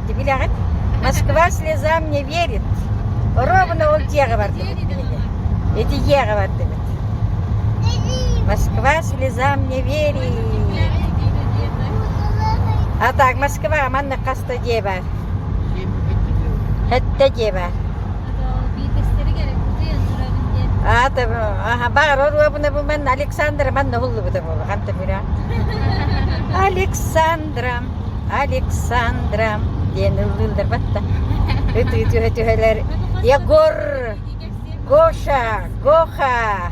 Ити билэҕит? Москва слезам не верит. Робина ол дьиэҕэ бардыбыт кинини. Ити дьиэҕэ бардыбыт. Москва слезам не верит. А так, Москва манна хаста дьиэ бар? Хэтте дьиэ бар? Аата аха бар оруобуна бу манна Александра манна уллубута буолу ханта бира. Александра. Александра диэн ыллыылларбат да ытыы түһэ түһэлэр Егор, Гоша, Гоха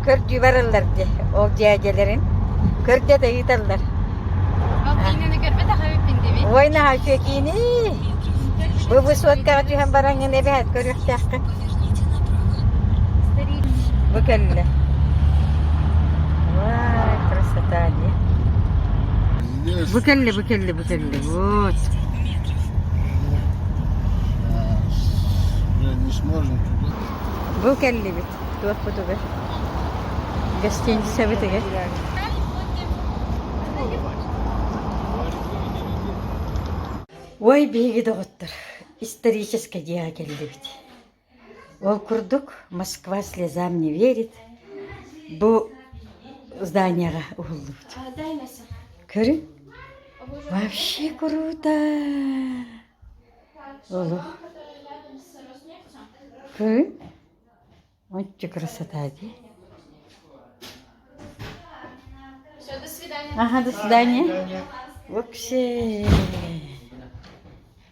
көрдүүбэр ыллар дии ол дьээдьэлэрин көрдө да ыыталлар. Ол киинэни көрбөтөх эбиппин дими. Ой наһаа үчүгэй киини. Быбысуоткаҕа түһэн бараҥҥын эбэһэт көрүөхтээххин. Бу кэллэ. Вай, красота, не? Бу кэлли, бу кэлли, бу кэлли. Вот. Бу кэлли бит. Туох бу тугар? Гостиница битиге. Ой, биһиги доҕоттор, исторический дьиэҕэ кэллибит. Ол курдук «Москва слезам не верит» бу зданияҕа уһуллубут. Көрүҥ, вообще круто! Олу. Көрүҥ, ончу красота дии. Все, до свидания. Ага, до свидания. Вообще.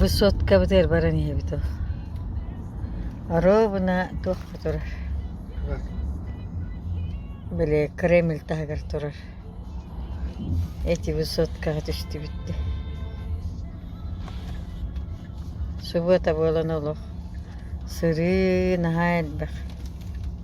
Высоткабытыгар баран ийэбит ол оруобуна туох да турар били кремль таһыгар турар эти высоткаҕа түстүбүт дии субуота буолан олох сырыы наһаа элбэх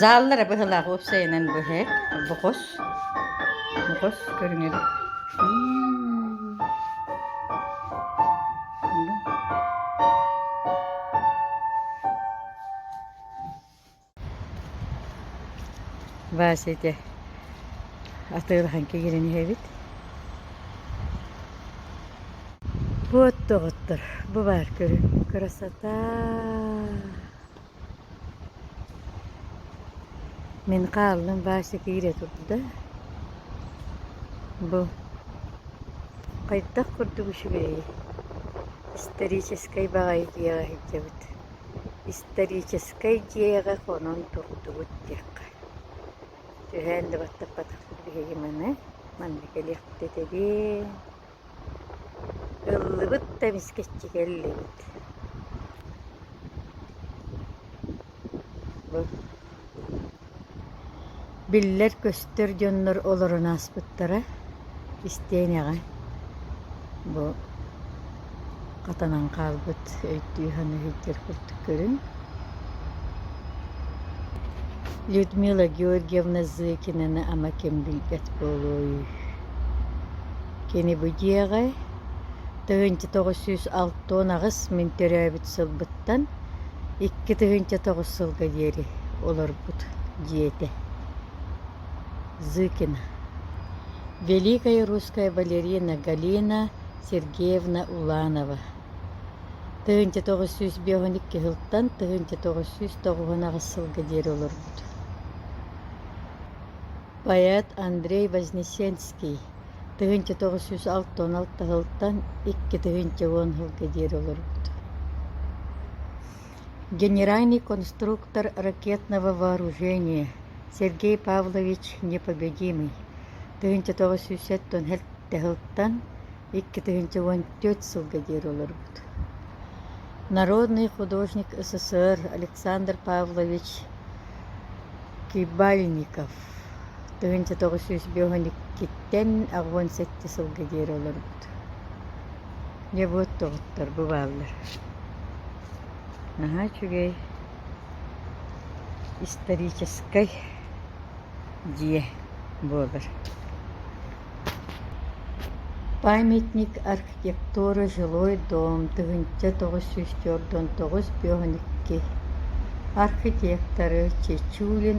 Зааллара быһылаах уопсайынан быһа бохос бохос көрүҥэр Вася ити атыылахан кигирин иһэбит Буот доҕоттор бу баар көрүҥ красота Мин хааллым Вася киирэ турда, бу хайдах курдук үчүгэйий, историческай баҕайы дьиэҕэ сылдьабыт, историческай дьиэҕэ хонон турдубут диэххэ. Түһээн да баттаппатахпыт биһиги маны, манна кэлиэхпит этэбиин Ыллыбыт да вискэччигэ иллибит Биллэр-көстөр дьоннор олорон ааспыттара истиэнэҕэ бу атанан хаалбыт өйдүү-санаа сылдьар курдук көрүҥ Людмила Георгиевна Зыкинаны ама ким билбэт буолуой Кини бу дьиэҕэ тыһыынча тоҕус сүүс алта уон аҕыс мин төрөөбүт сылбыттан икки тыһыынча тоҕус сылга диэри олорбут дьиэтэ Зыкина Великая русская балерина Галина Сергеевна Уланова тыһыынча тоҕус сүүс биэһун икки сылтан тыһыынча тоҕус сүүс тоҕуһун аҕыс сылга диэри олорбут поэт Андрей Вознесенский тыһыынча тоҕус сүүс алта уон алта сылтан икки тыһыынча уон сылга диэри олорбут Генеральный конструктор ракетного вооружения Сергей Павлович непобедимый тыһыынча тоҕус сүүс сэттэ сылтан икки тыһыынча уон түөрт сылга диэри олорбут Народный художник СССР Александр Павлович Кибальников тыһыынча тоҕус сүүс биэс уон иккиттэн ақ уон сэттэ сылга диэри олорбут Дьабыат тобуттар бу бааллар наһаа үчүгэй историческай дьиэ буолар памятник архитектура жилой дом тыһыынча тоҕус сүүс түөрт уон тоҕус бүөһүн икки архитекторы чечулин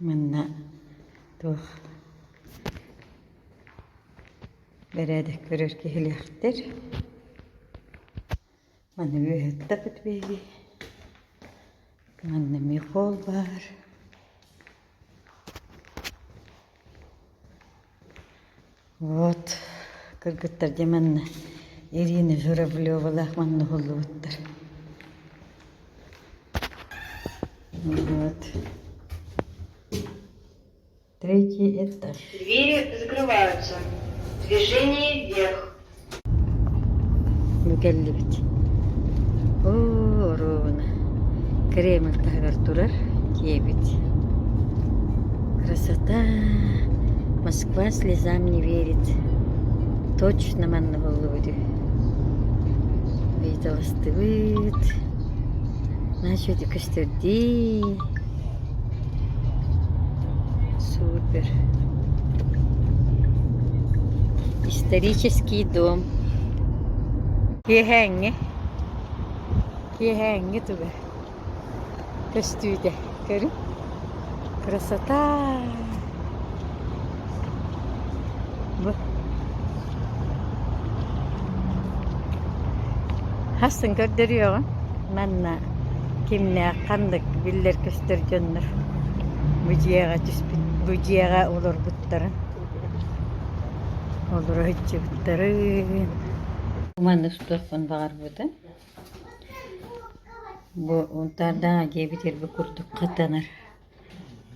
Манна туох бэрээдэк көрөр киһилээхтэр. Маны выһыттапыт биһиги. Манна михол баар. Вот кыргыттар дьэ манна Ирина Журавлевалаах маҥнаһыллыбыттар. Вот. Третий этаж. Двери закрываются. Движение вверх. Бу кэллибит. Оо, оруобуна Кремль таһыгар турар киэбит. Красота! Москва слезам не верит. Точно манна буллубут үһү. Ыйыталастыбыт. Начать көстөрдүү. Супер. Исторический дом. Киэһээҥҥи. Киэһээҥҥи туга. Көстүүтэ. Көрүҥ. Красота! Хасын көрдөрүөҕүҥ манна кимнээх ханнык биллэр-көстөр дьоннор бу дьиэҕэ түспүт бу дьиэҕэ олорбуттарын олоро сылдьыбыттарын маннык сутуохпун баҕарбытым бу унтаардаах дьиэ бүтэр бу курдук хатанар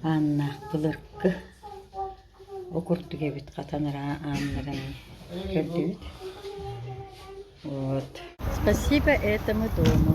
Ааннаах былыргы ол курдук эбит хатан араа ааннарын көрдүбүт. Вот. Спасибо этому дому.